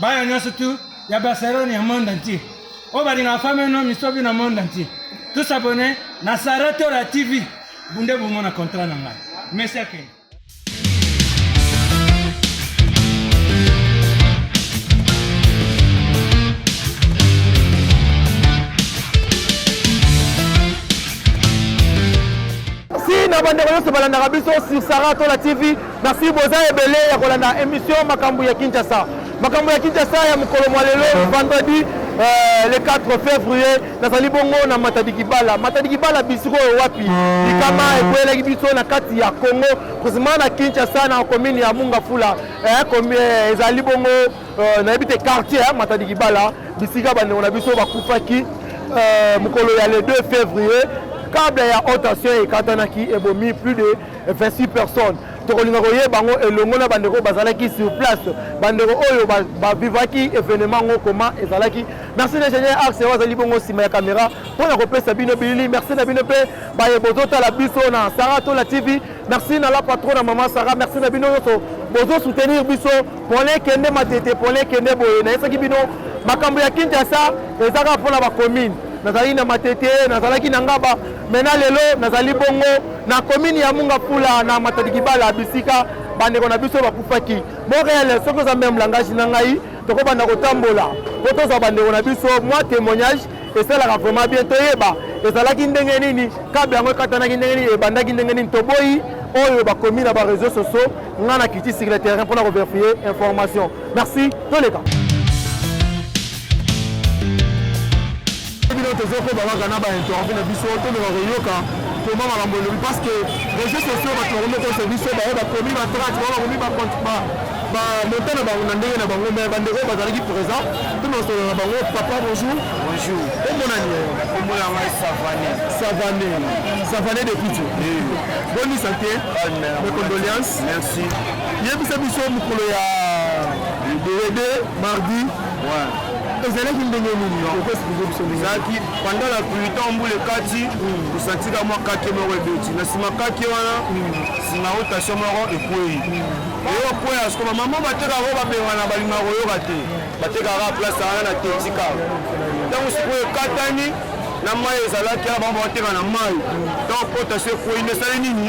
bana nyonso tu ya barcelone ya monde entier oyo balingaka fami no misobi na monde entier tous abonne na sara tora tv bunde bomona contrat na ngai merci akende na bandeko nyonso balandaka biso sur sara tola tv Merci boza ebele ya kolanda emission makambo ya Kinshasa. Makambo ya Kinshasa ya mokolo mwa lelo mhm. vendredi Euh, le 4 février nazali bongo na matadi kibala matadi kibala bisiko oyo wapi mm. likama ekweyelaki biso na kati ya congo precisement na kinshasa na commune ya mungafula eh, eh, ezali bongo euh, nayebi te quartier eh, matadi kibala bisika bandeko na biso bakufaki mokolo ya le 2 février kabla ya haute tension ekatanaki ebomi plus de 26 personnes tokolinga koyeba yango elongo na bandeko oyo bazalaki sur place bandeko oyo bavivaki ba événement yango koma ezalaki merci l'ingénieur axe oyo azali bongo nsima ya caméra mpo na kopesa bino bilili merci na bino mpe baye bozotala biso na sara tola tv merci na la patron na mama sara merci na bino nyonso bozo soutenir biso pole kende matete pole kende boye nayesaki bino makambo ya kinshasa ezaka mpo na bacommune nazali na matete nazalaki na ngaba mena lelo nazali bongo na komini ya munga pula na matadi kibala bisika bandeko na biso bakufaki boreele soki oza meme langage na ngai tokobanda kotambola mpo tozwa bandeko na biso mwa témoignage esalaka vraiment bien toyeba ezalaki ndenge nini kable yango ekatanaki ndenge nini ebandaki ndenge nini toboyi oyo bakomi na bareseau sociaux ngai na kiti sur le terrain mpona koverifie information merci toleka Soki bino tozo koba kaka na ba interview na biso to meka ko yoka comment makambo elobi parce que réseaux sociaux bato bakomi kosa biso baye bakomi ba trace baye bakomi ba ba ba montant na bango na ndenge na bango mais bande oyo bazalaki présent to na solo na bango papa bonjour bonjour omona ni kombo na ngai savane savane savane de pitu boni santé mes condoléances merci yebisa biso mokolo ya 2 mardi ezalaki ndenge nini ezalaki pendant la pluie temps mbula ekati tosantika hmm. mwa kake moko ebeti na nsima kake wana nsima hmm. rotation moko ekwei hmm. eyo kwea sikoba mama batekaka oyo babengana balinga koyoka te batekaka place wana na tetika ntango sikoyo ekatani na mai ezalaki ala bango bakoteka na mai ntango rotation ekwei nde esali nini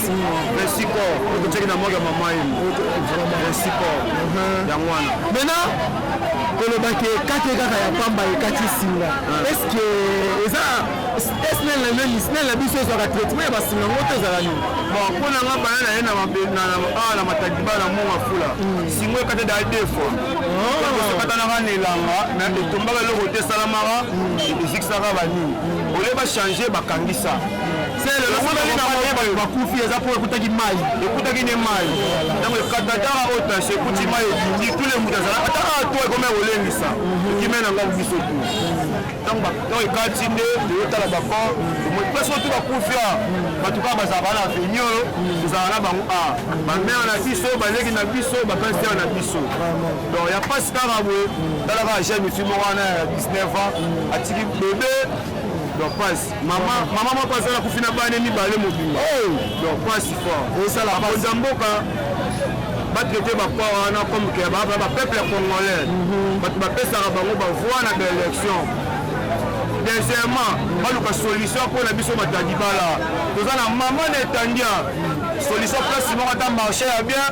principal okoteki na mboka mama ye principal yango wana maintenant kolobaki ekati kaka ya pamba ekati singa estce eza snel na nani snel na biso ezwaka traitement ya basinga ngo te ezala nini bon mpo na nga bana na ye awa na matadiba na mwa mafula singo ekata da deux fois sokatanaka na elanga na etombaka eloko te esalamaka ezikisaka banini olie bachange bakangisa bakufi eza mpo ekutaki mai ekutaki nde mai ntango ekatataka oyo tashe ekuti mai ebindi tule moto azala ata awa to ekomi kolengisa ekime na ngai biso tu ntango ekati nde toyotala bacor place oyo to bakufi a bato kaka bazala bana aveni oyo tozala na bango a bamere na biso baleki na biso bapastere na biso donc ya mpasi kaka boye talaka jeune fimo wana ya 19 ans atiki bebe donc mpasi mama mama moko azala kufi na bane mibale mobimba oh! donc pasi fort osala bakonzi ya mboka batraite bakwa wana comme ke baba bapeuple ya congolais mhm. bato bapesaka bango bavoi na baélection deuxièmement baluka solution mpo na biso batadibala toza na mama na etandia solution place moko ata marché ya bien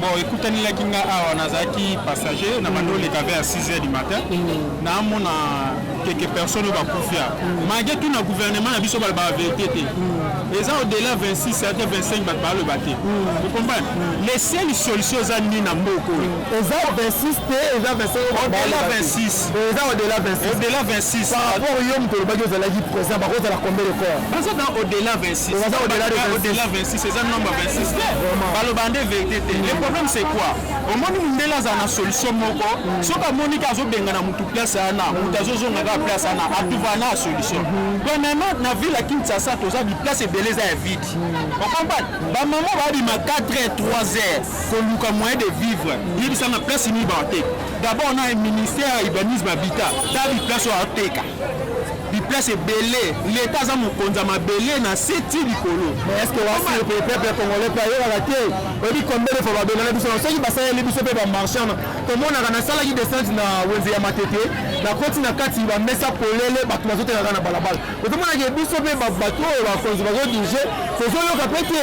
Bon, ekutanelaki nga awa nazalaki passager na bando oleka vers 6 heures du matin mm. naamona quelques personnes oyo bakufia mm. malgré tout na gouvernement na biso balobaka verité te mm. eza au-delà 26 certain 25 bato baloba te vous comprenez les seules solution eza nini na mboka oyo eza 26 te eza 25 au-delà 26 eza au-delà 26 au-delà 26 par rapport yo moto olobaki ozalaki présent bakozala combien de corps baza dans au-delà 26 Oza au delà de 26. Au-delà 26, eza nombre 26 te. Baloba nde verite te. Le problème c'est quoi? Omoni mundele azala na solution moko, soki amoni ka azobenga na mutu place wana, mutu azozonga kaka place wana, atuvana na solution. Premièrement, na ville ya Kinshasa toza bi place ebele eza ya vide. O comprendre? Ba maman babima 4 heures, 3 heures koluka moyen de vivre. Yebisa na place nini baoteka. D'abord na ministère ya urbanisme habitat, ta bi place oyo ateka. biplace ebele leta aza mokonzi ya mabele na se ti likolo mais est ce que wasi le peuple congolais mpe ayebaka te oyebi combien de fois babengana biso soki basaleli biso mpe bamarchand tomonaka nasalaki descente na wenze ya matete nakoti na kati bamesa polele bato bazotekaka na balabala otomonaka biso mpe bato oyo bakonzi bazodirige tozoyoka mpe te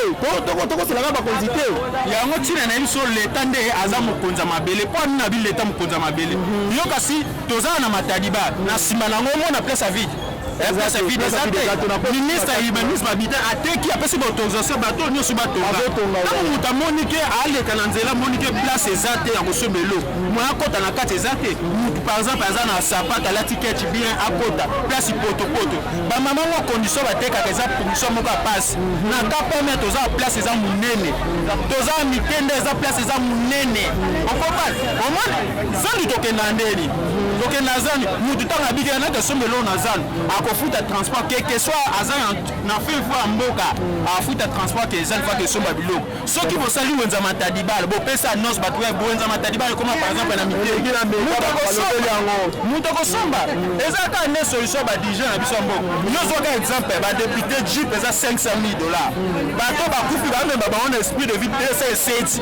tokoselaka bakonzi te yango ntina na ye biso leta nde aza mokonzi ya mabele mpo amina bi leta mokonzi ya mabele mhm. yo kasi Tozala na mataliba na sima nango omona place ya vide place vide eza te ministre ya urbanisme habitat ateki apesi baautorisation bato oyo nyonso batonga ntango moto amoni ke aleka na nzela amoni ke place eza te ya kosomba elo moye akota na kati eza te motu par exemple aza na sapate alati kechi bien akota place potopoto bamama ngo condition batekaka eza condition moko ya pasi na kapeme toza place eza monene toza mitende eza place eza monene okopa omona Zando tokenda ndeni tokenda zando mutu ntango abikela naki asomba eloko na zando akofuta transport quelque soit aza na fin fois ya mboka afuta transport ke zando faki esomba biloko soki bosali wenza matadibala bopesa annonce bato ya wenza matadibala ekoma par exemple na miteki moto akosomba eza kaka nde solution ya badirigent na biso ya mboka yo zwaka exemple ya badepute jeep eza 500 000 dollars bato bakufi bamemba bango na esprit de vie pesa eseti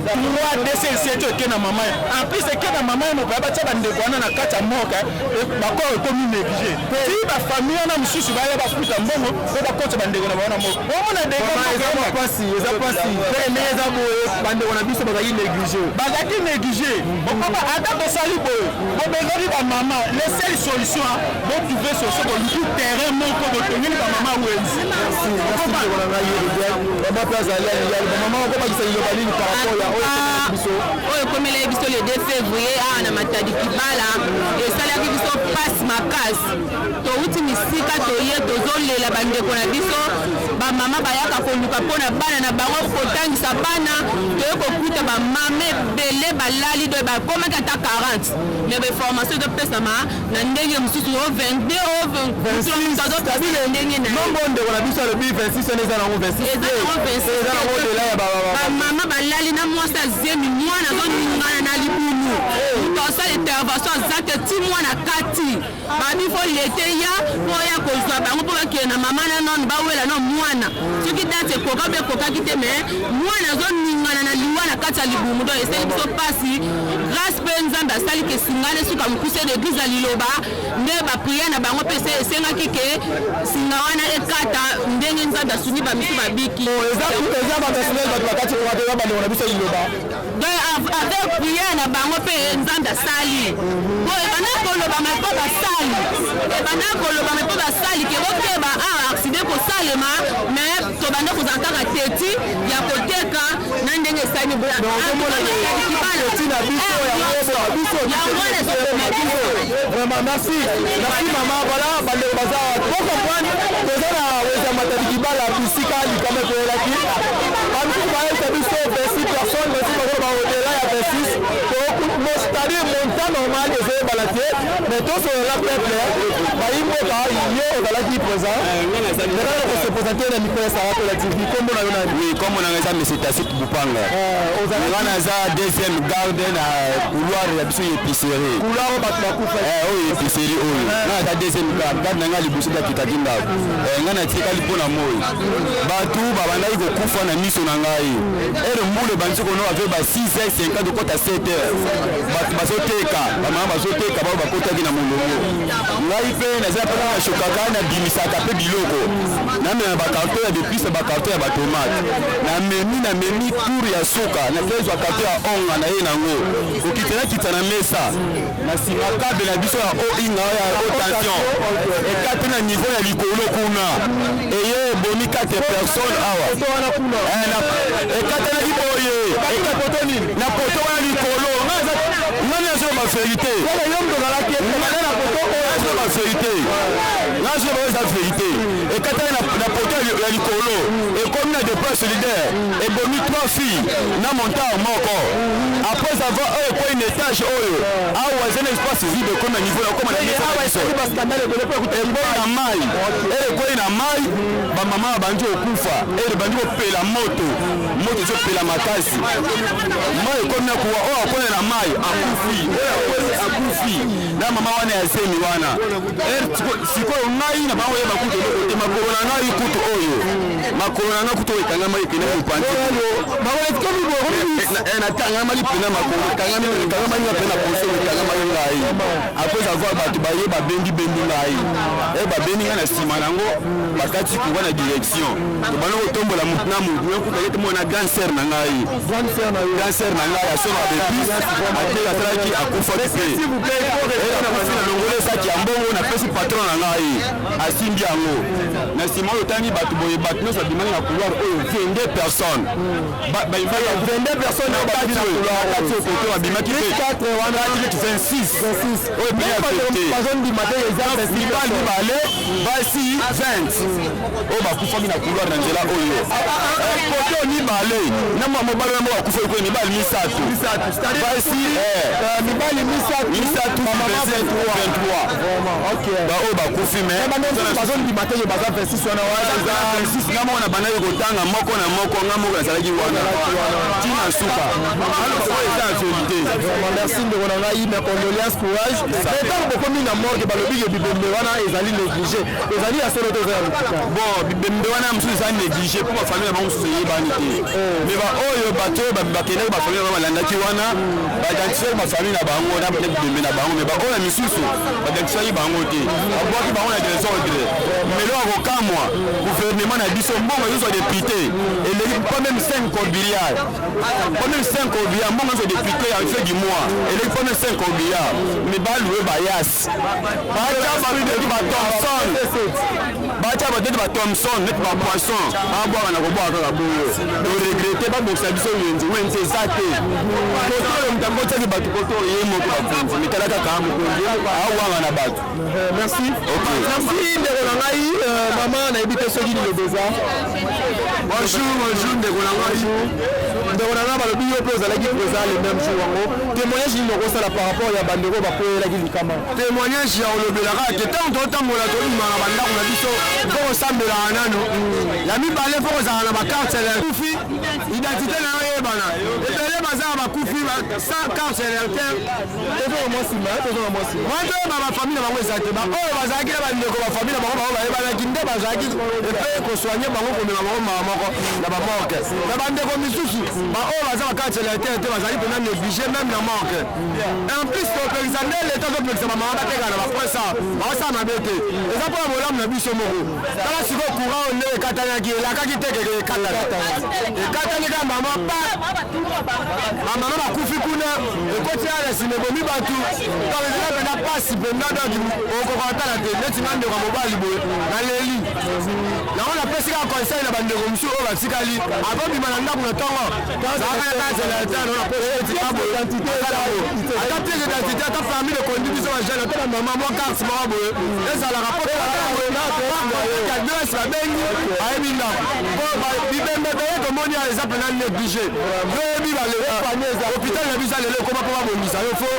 3 dcc to eke na mama en plus eke na mama moko ya batya bandeko wana na kati ya moka eh, bakoro ekomi néglige ti bafamille wana mosusu baya bafuta mbongo mpo bakoti bandeko na bango na moko omona degampasi eza pasi me eza boye bandeko na biso bazalaki néglige bazalaki néglige okoma ata tosali boye bobengaki bamama le seul solution botrouve solution boluki terrain moko botongeli bamama wenzi Merci, merci ndeko na ngai Rebel. Vraiment pe azali ya liyali. Ba maman okobakisa liloba nini par rapport ya oyo ekomeli biso? oyo ekomelaki biso le 2 février awa na matadi kibala esalaki biso mpasi makasi touti misika toye tozolela bandeko na biso bamama bayaka koluka mpo na bana na bango kotangisa bana toye kokuta bamama ebele balali doye bakomaki ata 40 me bainformation ezopesama na ndenge mosusu o 22 o 26 ndenge na nombo ndeko na biso alobi 26 wana eza nango 26 eza nango 26 eza nango odela ya bamama balali na mwasi ya zemi mwana azoningana na libulu moto asala intervention aza te ti mwana kati babi fo lete ya mpo ya kozwa bango mpo bakende na mama na none bawela na mwana soki date ekoka mpe ekokaki te me mwana azoningana na liwa na kati ya libumu donc esali biso mpasi Grace pe Nzambe asali ke Singane suka mukuse na eglise ya liloba nde ba prière na bango pe se esengaki ke singa wana ekata ndenge Nzambe asungi ba misu babiki. Oh, eza eza ba personnel ba bakati ko eza ba na biso liloba. Donc avec prière na bango pe Nzambe asali. Bo ebanda ko loba ma ko ba sali. Ebanda ko loba ma ko ba sali ke bokeba ah accident ko salema mais tobanda kozala kaka teti ya koteka na ndenge esali vraiment merci merci mama voilà bandeko baza po comprendre toza na weza matadi kibala bisika likama ekoyelaki bamisusu bayebisa biso 26 personne basusu bakolo baodela ya 26 mostadi montant normal ezoyebana te mais tosolola peuple bayimboka yo ozalaki présent Nazali na kose presenter na micro ya Sarah Kola TV. Kombo na yo nani? Oui, kombo na ngai eza Monsieur Tacite Bupanga. Eh, ozali Nga naza deuxième garde na couloir ya biso ya épicerie. couloir oyo bato bakufa. Eh, oyo épicerie oyo. Nga naza deuxième garde. Garde na ngai liboso da kitaki ndako. Eh, nga natikali mpo na moi. Bato babandaki kokufa na miso na ngai. Ere mbula ebandi kono avec ba 6 heures 50 kota 7 heures. Bato bazoteka, bamama bazoteka, bao bakotaki na molongo. ngai mpe naza mpe na shokaka nabimisaka mpe biloko namema bakarto ya depise bakarto ya batomate namemi namemi tour ya suka nakezwa karto ya onga na ye nango kokita nakita na mesa na nsima kabe na biso ya oinga ya rotation ekati na niveau ya likolo kuna eye ebomi 4 personne awa eh, ekatanaki boye na poto wana likolo ngai nazoloba verite nazoloba verite nazoloba eza verite ekatani na poto ya likolo ekomi na depart solidaire ebomi trois filles na montar moko après avoir oyo ekwei na etage oyo awa eza na espace vide ekomi na niveau nakoma na ekwei na mai ekwei na mai bamama babandi kokufa ebandi kopela moto moto ezopela makasi mai ekomi akuwa oyo akwele na mai akufi oyo akweli akufi na mama wana ya zemi wana eh, sikoyo ngai na bango yeba kutu eloko te makolo na ngai kutu oyo makolo na ngai kutu oyo ekangama epena mopanzi natangama lipena makolo ekangama nga mpe na poso ekangama yo ngai apres avoir bato baye babendi bendi ngai eh, babendi ngai na nsima na yango bakati kuwa na direction obanda kotombola motu na motu nakutaki te mwana grand sœur na ngai grand sœur na ngai asomba bepis ate asalaki akufaki te akufi na longola esaki ya mbongo napesi patron na ngai asimbi yango na nsima oyo otangi bato boye bato nyonso abimaki na couloir oyo 22 personne okoto babimaki te 26 oyo mpe ya mibale basi 20 oyo bakufaki na couloir na nzela oyo kote eh, mibale na mwa mobali yango bakufaki kuna mibali misato basi eh. eh, mibali misato baoyo bakufi mebazondima te baza 26 wana nga moko na bandaki kotanga moko na moko nga moko nazalaki wana tina suka oyo eza verité merci ndeko na ngai ma condoléance courage ntango bokomi na morgue balobi ke bibembe wana ezali néglige ezali ya solo toza bon bibembe wana mosusu eza néglige mpo bafamile na bango mosusu eyebani te oh. mais baoyo bato oyo bakendaki bafamile na bango balandaki wana baidentifisaki bafamile na bango na bibembe na bango mais baoyo misusu baidentifisaki bango te babwaki bango na desordre melo ya kokamwa gouvernement na biso mbongo ezozwa depute eleki pas même 5 cobiliard pas même 5 cobiliard mbongo ezozwa depute ya fin du mois eleki pas même 5 cobiliard mais balue bayas batia bato neti ba thomson batia bato neti ba thomson neti ba poisson babwaka na kobwaka kaka boye toregrete babokisa biso wenze wenze eza te koto oyo moto yango otiaki bato koto oyo ye moko bakonzi mitala kaka mokonzi awanga na bato eh, merci merci ndeko na ngai euh, mama nayebi te soki liloba eza bonjour bonjour ndeko na ngai ndeko na ngai balobi yo mpe ozalaki présent le même jour yango Temoignage nini okosala par rapport ya bandeko oyo bakweyelaki likama? Temoignage ya kolobela kaka te ntango totambola tobima na bandako na biso mpo kosambelaka nano ya mibale mpo kozala na bakarte ya kufi identite na yo eyebana ebele baza na bakufi sans carte ya lerter toyeba bafamile na bango eza te baoyo bazalaki na bandeko bafamile na bango bango bayebanaki nde bazalaki epe kosoigne bango komema bango mawa moko na bamorke na bandeko misusu ba oyo baza na kati ya letele te bazali mpena néglige meme na manque en plus topekisa nde leta topekisa bamama bateka na bapresa baosala mabe te eza mpo na bolamu na biso moko tala sikoyo courant oyo nde ekatanaki elakaki te keke ekatana ekatani kaka mama pa bamama bakufi kuna ekoti ya lesina ebomi bato donc ezala mpena mpasi mpenza donc okoka kotala te neti nga ndeko ya mobali boye naleli Yango napesi kaka conseil na bandeko mosusu oyo batikali akobima na ndako na ntongo ata pièce d'identité ata permis de conduire biso bajane ata na mama mwa carte moko boye ezalaka po adresse babengi ayebi ndako po bibembe beye tomoni ya eza mpena néglige oyebi balehôpital na biso ya lelo ekoma mpo babongisa yo fo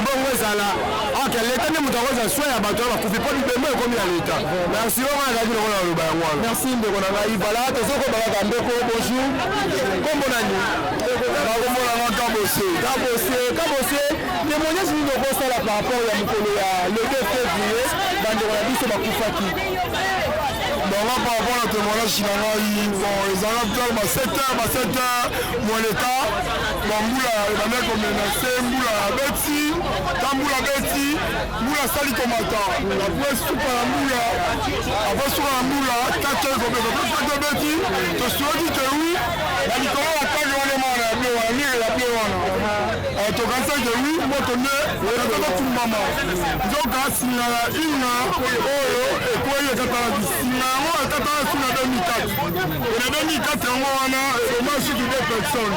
mbongo ezala Ok, l'État nde moto akozwa soin ya bato oyo bakufi mpo bibembe ekomi ya l'État. Merci oyo ngai nazalaki lokola naloba yango wana. Merci ndeko na ngai. Voilà, tozokoba kaka ndeko, bonjour. Kombo na nini? Nakomona nga Kabose. Kabose, Kabose, témoignage nini okosala par rapport ya mokolo ya le 2 février bandeko na biso bakufaki? Donc là, par rapport à la témoignage, bon, ils en ont tellement 7 heures, 7 heures, mon état, bon, boula, les mecs ont menacé, boula, Betty. Tambula abeti mbula asali komata apres suka ya mbula apres suka ya mbula kake kobeta apres kake obeti tosuaki ke wi na likolo ya kake wana emana ya ble wana mire ya ble wana eh, tokanisaki ke wi moto nde ekatakokumbama nzoka singa ya inga oyo ekwei ekatalaki singa yango ekatalaki na 2004 na 2004 yango wana ebomaki suki de personne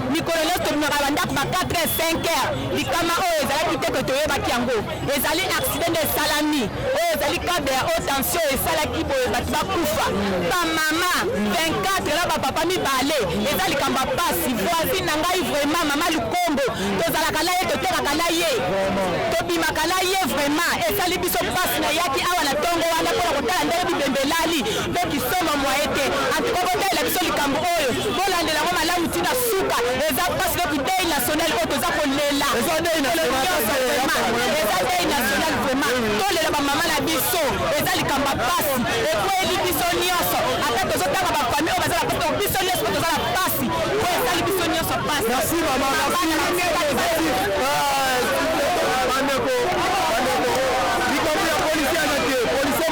Mikolo nionso tobimaka na ba ndaku ba 4 heures, 5 heures, likama oyo ezalaki te que toyebaki yango, ezali accident nde esalami, oyo ezali cable ya haute tension esalaki boye batu bakufa, ba mama 24 na ba papa mibale, eza likambo ya pasi, voisine na ngai vraiment mama lukombo tozalaka na ye, totekaka na ye, tobimaka na ye vraiment esali biso pasi, nayaki awa na tongo wana pona kotala ndenge bibembe elali, Leki somo moyen te en tout cas botalela biso likambo oyo bolandela yango malamu ti na suka eza pasi leki deuil national oyo toza kolela Eza deuil Mikolo national, nyonso deuil ya vraiment. famille. eza deuil national vraiment tolela ba mama na biso eza likambo ya pasi ekweli biso nyonso ata tozotanga ba famille oyo baza na pasi donc biso nyonso mpe toza na pasi oyo esali biso nyonso pasi Merci maman, merci. Bana na biso Positif. Ah, bandeko, bandeko. Likambo ya policier aza te. Policier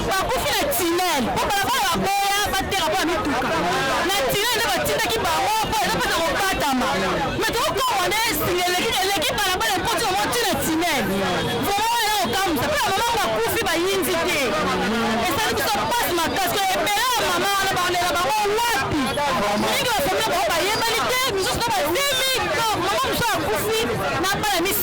bakufi na tunnel po balabala baboya bateka po ya mituka na tunnel nde batindaki bango po eza mpona kokatama me tokokowa nde esinga eleki eleki balabala ekoti yango ti na tunnel vraimen wana eza kokamwisa mpe bamama bakufi bayinzi te esali biso mpasi makasi oyo ebele ya mama wana balela bango wapi mingi bafamile bango bayebani te misusu na bazemi to mama mosusu akufi na bana misi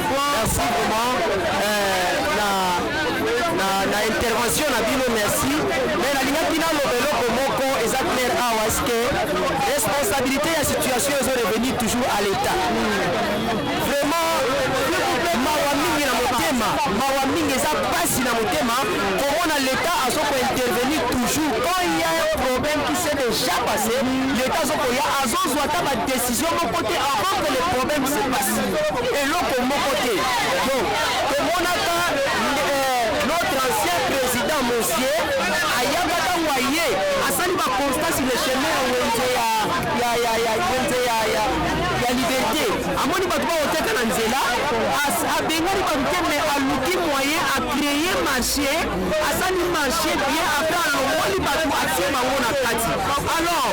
Merci vraiment euh, na, na, na intervention na bino merci mais nalingaki naloba eloko moko eza claire awa eske responsabilité ya situation ezo revenir toujours à l'état vraiment mawa mingi na motema mawa mingi eza mpasi na motema komona leta azo kointervenir toujours quand il y a un problème qui s'est déjà passé leta azo koya azozwa ata badesi Yo moko te avant que le problème se passe eloko moko te donc tomonaka euh, notre ancien président monsieur ayaka ntango aye asali ba constat sur le chemin ya wenze ya ya ya ya wenze ya ya ya liberté amoni bato baoteka na nzela as- abengani bato te mais aluki moyen a créer marché asali marché bien après alongoli bato atie bango na kati alors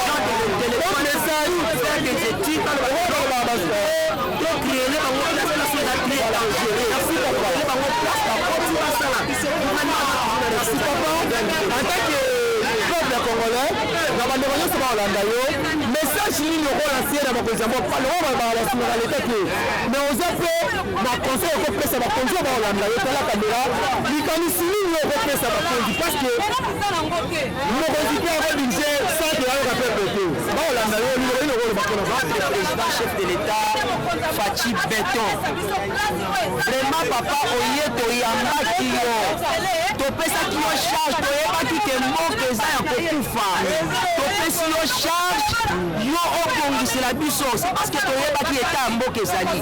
kolanda yo message nini okolansie na bakonzi ya mboka lokola balobaka basinga na leta te me oza mpe na conseil okopesa bakonzi oyo bakolanda yo tala kamera likanisi nini okopesa bakonzi parce que Mokonzi mpe akobinze sante yayoka pepe te bakolanda yo liloba nini okoloba mpona votre président chef de l'état faci beton vraiment papa oye toyambaki yo topesaki yo charge toyebaki ke mboka eza ya kokufa topesi yo charge yo obongisela biso c'est parce que toyebaki eta ya mboka ezali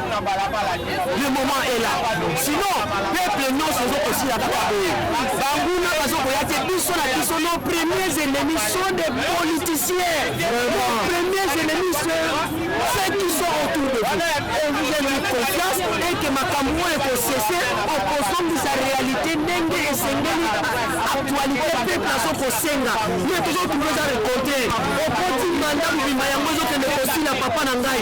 le moment est là sinon peuple nyonso ezokosila kaka boye banguna bazokoya te biso na biso nos premiers ennemis sont des politiciens nos premiers ennemis ceux qui sont autour de vous et vous avez confiance et que makambo oyo ekosese okozongisa réalité ndenge esengeli actualité peuple azokosenga ye tozokuta eza rekolte okoti manda mobimba yango ezokende kosila papa na ngai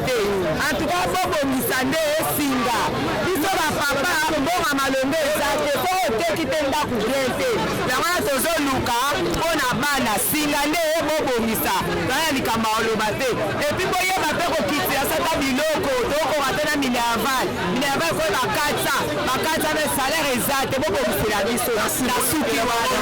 te en tout cas bobongisa nde singa biso ba papa mbonga malonga eza te soki oteki te ndako bien te yango wana tozoluka mpo na bana singa nde bobongisa bana likambo ya koloba te epuis boyeba mpe kokitisa sata biloko tokokoka te na minerval minerval ekoki bakatisa bakatisa mpe salaire eza te bobongisela biso nasuki wana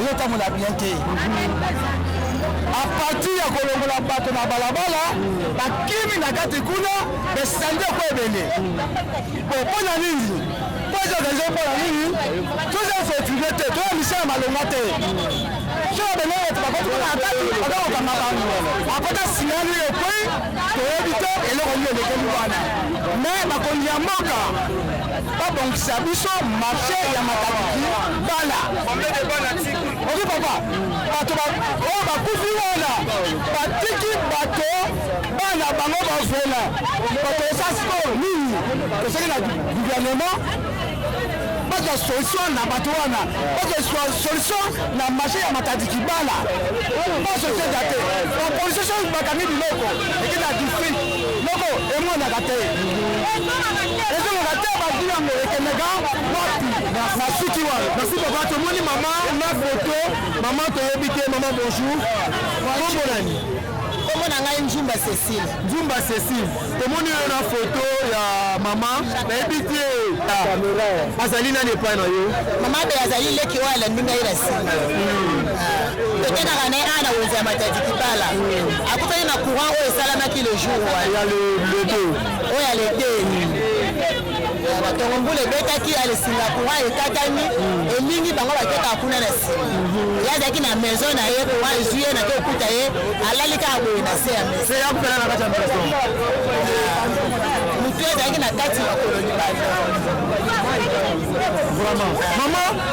ezotambola bien te apartir ya kolongola bato na balabala bakimi na kati kuna besandi eko ebele po mpo na nini mpoza organize mpo na nini toza fetile te toya misala malonga te soki bene bato bakoti kuna na kati baza kokanga bango akota sinani ekwei toyebi te eloko nini elekeli wana me bakonzi ya mboka babongisa biso marche ya matabiki bana oki papa bato oyo bakufi wana batiki bato bana bango bavela bato eza sport nini toseki na gouvernement bazwa solution na bato wana bazwa solution na marché ya matadiki bala basoki eza te bapolisi soki bakangi biloko ekenda district Noko emonaka te. Ezongaka te ba vie yango ekendaka wapi? Na suki wana. Merci papa tomoni mama na photo. Mama toyebi te mama bonjour. Kombo nani? Kombo na ngai Njumba Cecile. Njumba Cecile. Tomoni yo na photo ya mama. Nayebi te. Azali nani epai na yo? Mama pe azali leki oyo alandi ngai na sima. Tokendaka na ye awa na wenze ya matadi kibala. akutani na courant oyo esalamaki le jour ya le 2 oyo ya le 2 batongo mbula ebetaki ya lesinga courant ekatani elingi bango bakeka kuna na nsima ye azalaki na maison na ye courant ezwi ye nake okuta ye alali kaka boye na se ya maison motu ezalaki na kati makolo libanda vraiment mama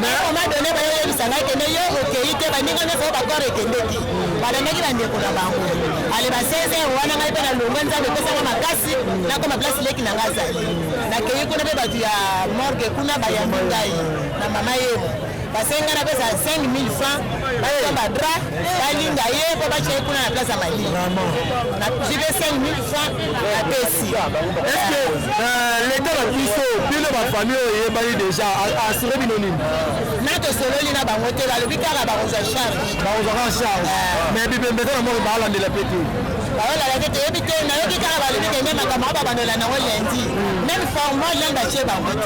mais on m'a donné bayo yebisa ngai kende yo okeyi te baninga nyonso bakore ekendeki balandaki bandeko na bango ale ba 16 heure wana ngai mpe na longwe nzambe epesanga makasi nakoma place leki na ngai azali nakeyi kuna mpe bato ya morgue kuna bayambi ngai na mama yebo basengi ngai napesa 5000 francs basomba dra balinga ye mpo batya ye kuna na place ya malinga na jibe 5000 franc apesi eske leta na biso bino bafamille oyo eyebani deja asire bino nini na tosololi na bango te balobi kaka bakozwa charge bakozwaka charge mais bibembeka na moko baalandela mpe te baolala te toyebi te nayoki kaka balobi kende makambo oyo babandola nango lendi meme formal nani batye bango te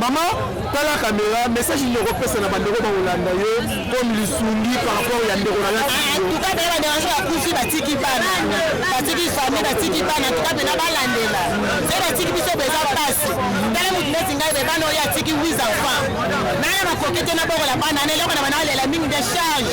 mama tala kamera message nini okopesa na bandeko bakolanda yo comme lisungi par rapport ya ndeko na yakufi batiki bana batiki famille batiki bana tuka mpena balandela se batiki biso beza mpasi tala motu neti ngai be bana oyo atiki wis enfant nana makoki te nabokola bana na eloko na bana alela mingi de charge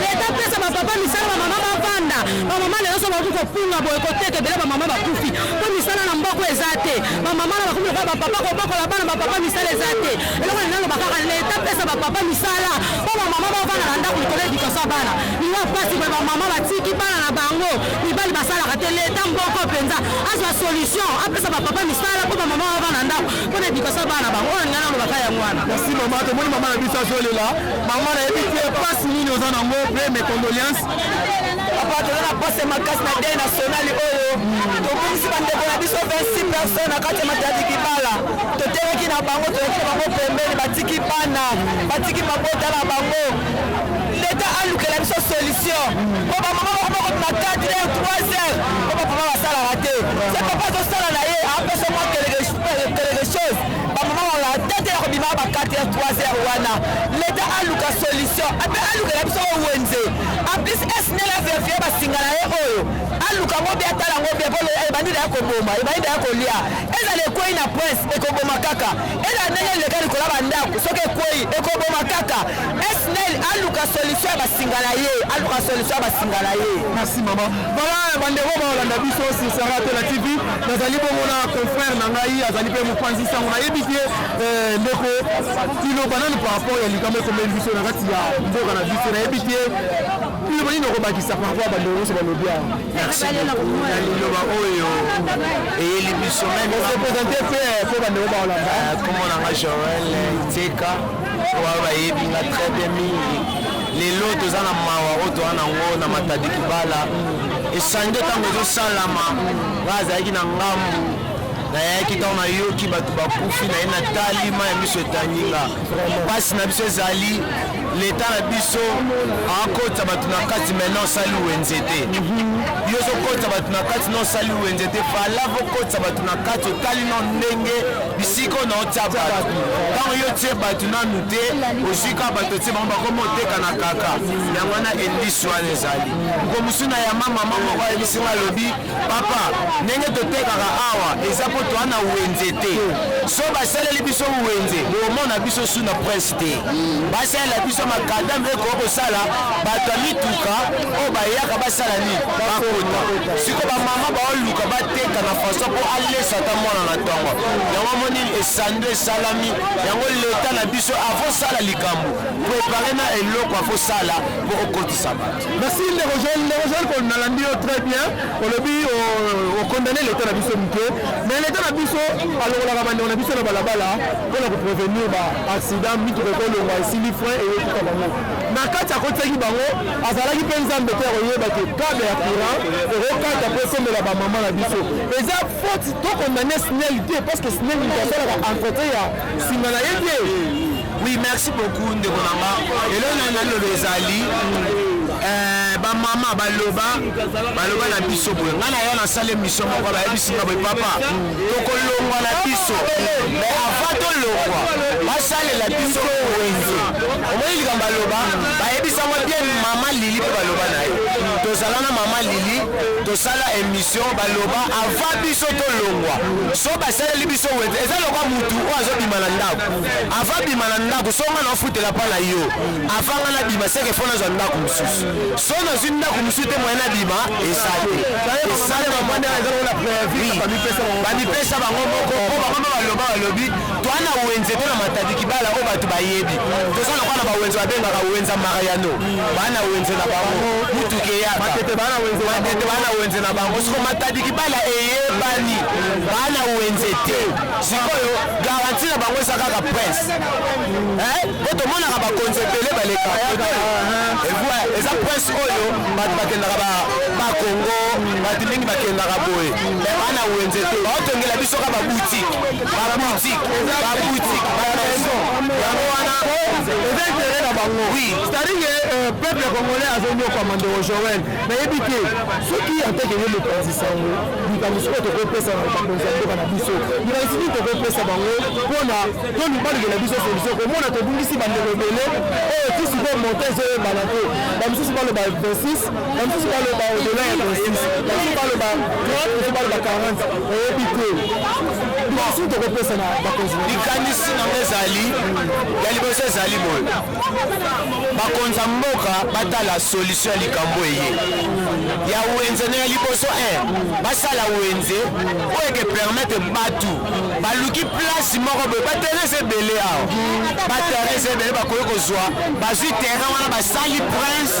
Leta apesa ba papa misala ba mama bavanda ba mama lelo so bakoki kopunga boye koteka ebele ba mama bakufi mpo misala na mboko eza te ba mama na bakomi lokola ba papa kobokola bana ba papa misala eza te eloko lelo aloba kaka leta apesa ba papa misala mpo ba mama bavanda na ndako likolo edikasa ya bana liwa mpasi boye ba mama batiki bana na bango mibali basalaka te leta mboko mpenza azwa solution apesa ba papa misala mpo ba mama bavanda na ndako mpo na edikasa ya bana na bango oyo ngai nalobaka yango wana Merci maman, tomoni maman na biso azolela. Maman nayebi te pasi nini oza nango mpe mes condoléances. Papa toza na pasi makasi na dei nationali oyo tobungisi bandeko na biso 26 personnes na kati ya matadi kibala toteleki na bango toyaki na bango pembeni batiki bana batiki mabota na bango leta alukela biso solution mpo bamama moko moko na 4 heures 3 heures mpo bapapa basalaka te se papa azosala na ye apesa mwa quelque chose bamamaola tete ya kobima ba 4 heures 3 heures wana leta aluka solution ape alukela biso oyo wenze en plus esnel averifie basinga na ye oyo aluka ngo bia tala ngo bia po ebandi na ya koboma ebandi na ya kolia ezala ekwei na prince ekoboma kaka ezala ndenge eleka likolo ya bandako soki ekwei ekoboma kaka esnel aluka solution ya basinga na ye aluka solution ya basinga na ye merci mama voilà bandeko baolanda biso sur saratola tv nazali bongo na confrère na ngai azali mpe mopanzi sango nayebi te eh, ndeko iloba nani par rapport ya likambo ekomeli biso na kati ya mboka na biso nayebi te iloba nini okobakisa par rapport ya bandeko nyonso balobi awa liloba oyo eyeli biso memepresente mpe eh, mpo bandeko baolanda eh, kombo na nga joel iteka oyo bayebi nga très bien mingi lelo toza na mawa oyo toza na yango na matadi kibala esande ntango ezosalama ngai azalaki na ngambu nayaki ntango nayoki bato bakufi naye natali mai ya miso etanginga mpasi na biso ezali leta na biso akotisa bato na kati maina osali wenze te yo ozokotisa bato na kati na osali wenze te fala vokotisa bato na kati otali no ndenge bisika ona otya bato ntango yo otie bato nanu te ozwi kaka bato otie bango bakoma otekana kaka yango wana endisi wana ezali Nkomusuna ya ma mama moko ayebisi nga alobi papa ndenge totekaka awa eza mpo toa na wenze te so basaleli biso wenze bokomona biso su na prince te basalela biso makadame ekoki kosala bato ya mituka oyo bayaka basala nini bakota siko bamama baoluka bateka na faso mpo alesa ata mwana na ntongo yango amoni esando esalami yango leta na biso avosala likambo prepare na eloko avosala mpo okoti Merci ndeko Joel, ndeko Joel ko nalandi yo très bien. Olobi o condamner l'état na biso mike. Mais l'état na biso alongolaka bandeko na biso na balabala mpo na ko prévenir ba accident mituka ekolongwa esili frein eye tuka bango. Na kati akotisaki bango azalaki mpe nzambe te akoyeba te kable ya courant ekokata mpo ekomela bamama na biso. Eza faute to condamner SNEL te parce que SNEL moto asalaka entretien ya nsima na ye te. Oui, merci beaucoup ndeko na nga eloko nani naloba ezali eh, bamama baloba baloba na biso boye ngai naya nasala emission moko bayebisi nga boye papa tokolongwa na biso mais avant tolongwa basalela biso wenze omoni likambo baloba bayebisango bien mama lili mpe baloba na ye tozala na mama lili tosala emission baloba avant biso tolongwa so basaleli biso wenze eza lokwa motu oyo azobima na ndako avant bima na ndako so nga naofutela mpa na yo avant nga na bima seke fo nazwa ndako mosusu so nazwi ndako mosusu te moyen na bima eza te bamipesa bango moko po bango mpe baloba balobi toa na wenze to na matadi kibala oyo bato bayebi toza na kwa na bawenze babengaka wenza mariano baa na wenze na bango motuka eyaka matete baa na wenze na bango soko matadi kibala eyebani baa na wenze te sikoyo garanti na bango eza kaka prince po tomonaka bakonzi ebele baleka eza prince oyo bato bakendaka bakongo bato mingi bakendaka boye me bana wenze te baotongela biso ka baboutique baboutique baboutique bamaison yango wana eza intere na bango oui c'est-à-dire euh, peuple congolais azonyokwama ndeko joel nayebi te soki anteke ye mokonzi sango likambo soko tokopesa na bakonzi ya mboka na biso likanisi nini tokopesa bango mpona tolubalukela biso solution komona tobungisi bandelo ebele oyo ti sikoyo monta ezoyebana te bamosusu baloba 26 bamosusu baloba odela ya 26 bamosusu baloba 30 mosusu baloba 40 nayebi te likanisi nini tokopesa na bakonzi likanisi nango ezali ya liboso ezali boye bakonza mboka batala solution ya likambo eye ya wenze na ya liboso eh, basala wenze oyo eke permettre batu baluki place moko boye baterrain ebele awa baterrain ebele bakoki kozwa bazwi terrain wana basali prince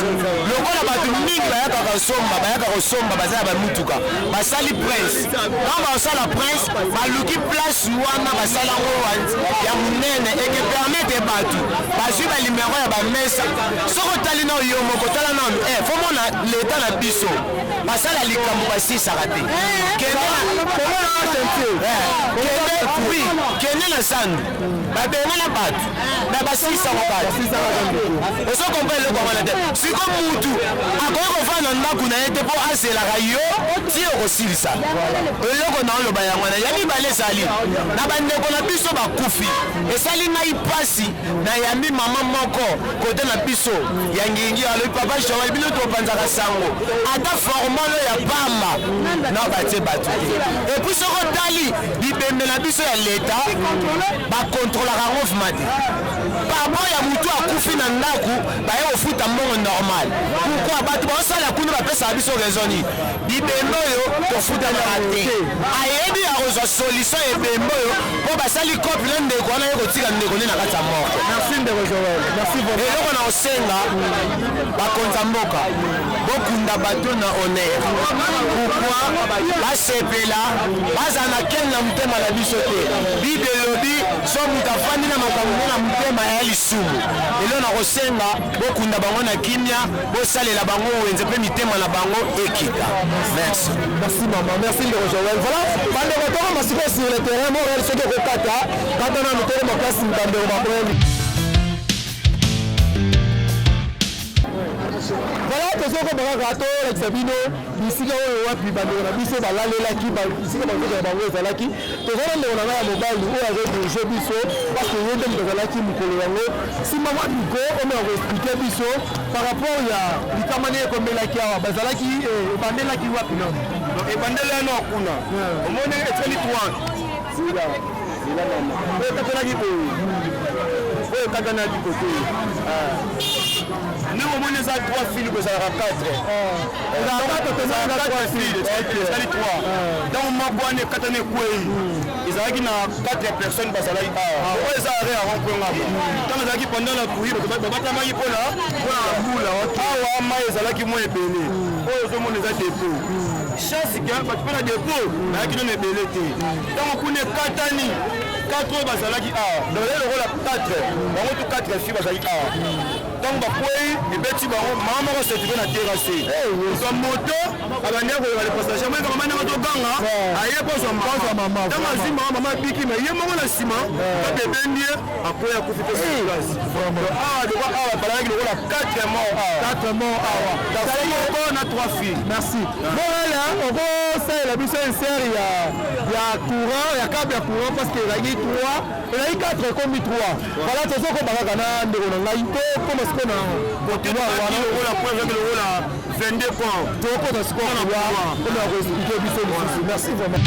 lokola bato mingi bayaka kosomba bayaka kosomba baza na bamutuka basali prince Quand basala prince baluki place wana basala ngo ya munene et que permettre batu bazui ba numero ya ba mesa soki otali na yo moko tala na eh faut mona l'état na biso basala likambo basisaka te kende na oui kende na zandu babengana bato na basisango bato ozo kompa eloko wana te siko mutu akoki kofanda na ndako na ye te mpo azelaka yo ti okosilisa eloko na oloba yango wana ya mibale ezali na bandeko na biso bakufi esali ngai mpasi nayambi mama moko kote na biso ya ngingi alobi papa joel bino topanzaka sango ata formalo ya pamba na batie bato te epuis soko otali bibembe na biso ya leta bakontrolaka yango vma te papa ya motu akufi na ndako baye kofuta mbongo normal pourkui bato baosala kuna bapesaka biso raison nini bibembe oyo tofutanaka te ayebi ya kozwa solution ya ebembe oyo mpo basali cope na ndeko wana ye kotika ndeko nde na kati ya moko eloko na kosenga bakonza mboka bokunda bato na honneur pourkui basepela Bazala na kin na motema na biso te. Bible elobi so moto afandi na makambo mpe na motema ya lisumu. Lelo nakosenga bokunda bango na kimia, bosalela bango wenze mpe mitema na bango ekita. Merci. Merci maman, merci ndeko Joël. Voilà, bandeko toko masiko sur le terrain, mon réel soki okokata, kata na motema makasi bandeko bakoyemi. Voilà, tozo ko bakaka to like Sabino. bisika oyo wapi bandeko na biso balalelaki bisika banzoto na bango ezalaki toza na ndeko na ngai ya mobali oyo azodirige biso parce que ye nde moto azalaki mokolo yango nsima mwa miko oyo akoexplike biso par rapport ya likama nde ekomelaki awa bazalaki eh, ebandelaki wapi no ebandela yano kuna omoni etali toine ekatanaki boye oyo ekatanaki kote ndenge omoni eza 3 fili kozalaka 4 ntango moko wana ekatani ekwei ezalaki na 4 personne bazalaki awa ah. oyo eza are ya rompwengama ntango ezalaki pendant la couri babatamaki mpona mpona bula awa mai ezalaki mwa ebele hmm. oyo ozomona eza depo hmm. chance ke bato mpe na depo hmm. bayaki nono ebele te ntango kuna ekatani 4 oyo bazalaki awa donc ezali lokola 4 bango tu 4 fi bazalaki awa ntango bakwei ebeti bango mama moko setipe na terase ozwa moto abandi akoyoka le passage amoni kama ndenge toganga aye kozwa mama ntango azwi mama mama abiki me ye moko na nsima kati ebendi ye akwei akufi mpe surplace awa lokola awa balanaki lokola 4 mort 4 mort awa kasi moko na 3 filles merci bolala okosalela biso insert ya courant ya cable ya courant parce que elaki 3 Ezali 4 ekomi 3. Voilà tozo koma kaka na ndeko na ngai to koma siko na couloir wana. Lokola kwa ezaki lokola 22 kwa. Tokota siko na couloir. Comme na ko expliquer biso lisusu. Merci vraiment.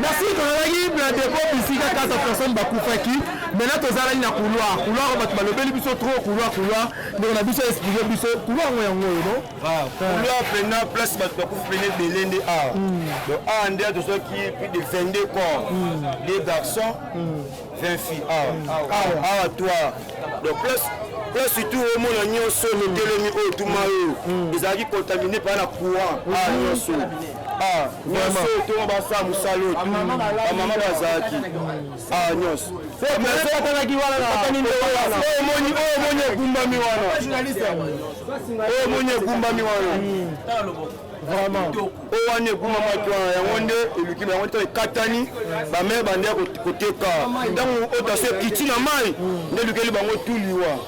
Merci tozalaki na depot bisika 4 personnes bakufaki maintenant tozalaki na couloir couloir bato balobeli biso trop couloir couloir ndeko na biso explique biso couloir yango yango oyo non Ah, kuna pena place bato bakufi pene ebele nde awa hmm. donc awa nde tozwaki plus de 22 corps hmm. de garçon 20 filles awa to awa donc place place surtout omona nyonso mitelemi oyo tuma oyo hmm. ezalaki contamine mpaa na courant awa nyonso nyonso toma basala mosala oyo bamama bazalaki Ah, nyonso oyoatalaki wanaomoni omoni egumbami wana oyo omoni egumbami wana vraiment oyo wana ekumamaki wana yango nde eluki na yango ntango ekatani bamere bande ya koteka ntango otaso ekiti na mai nde elukeli bango tuliwa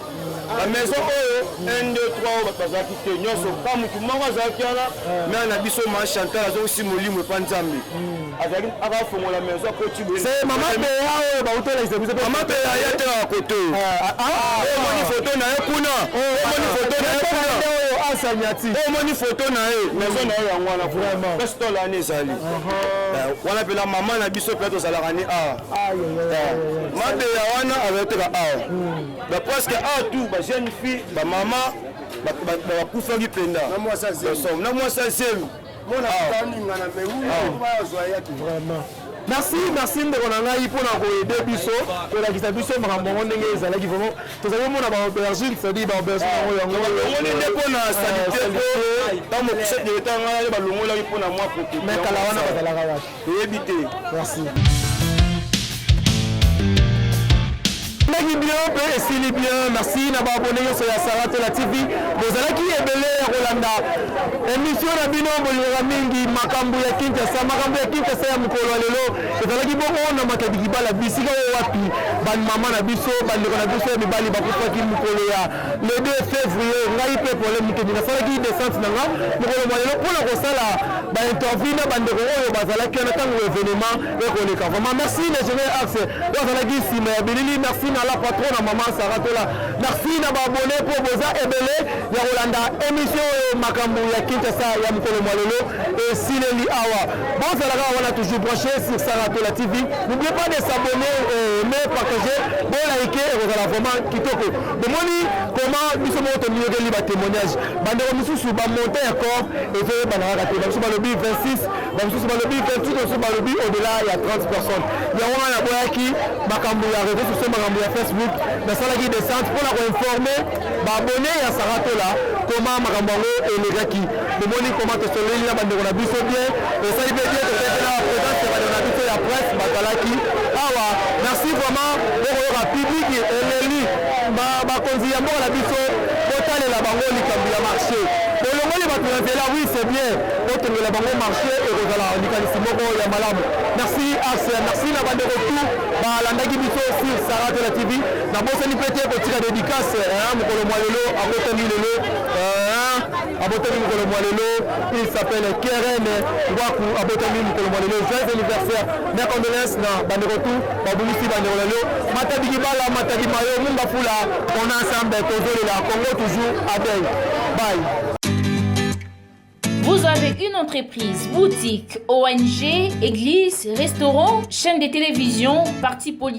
ba maison oyo 1 2 3 oyo bato bazalaki te nyonso pa mm. motu moko azalaki wana mm. mare na biso ma chantal azongisi molimo epa nzambe mm. azalaki akafongola maison akoti mama beya oyo bautelakisa biso mama beya ya telaka kote ah, ah, ah. omoni foto na ye kuna omoni foto na ye kuna asanyati omoni foto na ye maison na ye yango wana vraiment pesi tolani ezali eh, wana mpela mama na biso mpe tozalaka ni awa eh, mabeya wana azali teka awa ba presque a tout ba jeune fille ba mama bakufaki mpenda na mwasi ya zemi merci merci ndeko na ngai mpona koyede biso kolakisa biso makambo yango ndenge ezalaki vraimen tozali komona baaubergine cetadire baaubergine yango yangoongoni nde mpona salite mpo ntango mokusa direkta ngai balongolaki mpona mwa prote mais kala wana bazalaka wapi Toyebi te. Merci. ezalaki bien mpe esili bien merci na baabone nyonso ya saratela tv bozalaki ebele ya kolanda emission na bino bolingaka mingi makambo ya kinshasa makambo ya kinshasa ya mokolo ya lelo ezalaki bongo na matadikibala bisika oyo wapi bamama na biso bandeko na biso ya mibali bakufaki mokolo ya le 2 février ngai mpe pole mokedi nasalaki descente na nga mokolo mwa lelo mpo na kosala bainterview na bandeko oyo bazalaki wana ntango événement ekoleka vraiment merci le général axe oyo azalaki nsima ya bilili merci na la patron na mama saratola merci na baabone mpo boza ebele ya kolanda émission oyo makambo ya kinshasa ya mokolo mwa lelo esileli awa bozalaka wana toujours branché sur saratola tv n'oubliez pas de s'abonner euh, mais partager bolaike ekozala vraiment kitoko Bomoni comment biso moko tomiyokeli ba témoignages. Bandeko mosusu ba montant ya corps ezoyebana kaka te. Bamosusu balobi 26, bamosusu balobi 28, bamosusu balobi au-delà ya 30 personnes. Yango wana naboyaki makambo ya réseaux sociaux, makambo ya Facebook, nasalaki descente mpo na koinformer ba abonnes ya Sarah Tola comment makambo yango elekaki. bomoni koma tosololi na bandeko na biso bien esali mpe bien tozali mpe na bapresence ya bandeko na biso ya presse bazalaki awa merci vraiment bokoyoka publiki eleli bakonzi ya mboka na biso botalela bango likambo ya marché bolongoli bato na nzela oui c'est bien botongela bango marché ekozala likanisi moko ya malamu merci arse merci na bandeko tout balandaki biso sur sarate la tv nabosani mpe te kotika dédicace mokolo mwa lelo akotani lelo abotami mokolo mwa lelo il s'appelle keren ngwaku abotami mokolo mwa lelo joyeux anniversaire mes condoléances na bandeko tu babungisi bandeko na lelo matadi kibala matadi mayo munga fula on ensemble tozolela congo toujours adei bye Vous avez une entreprise, boutique, ONG, église, restaurant, chaîne de télévision, parti politique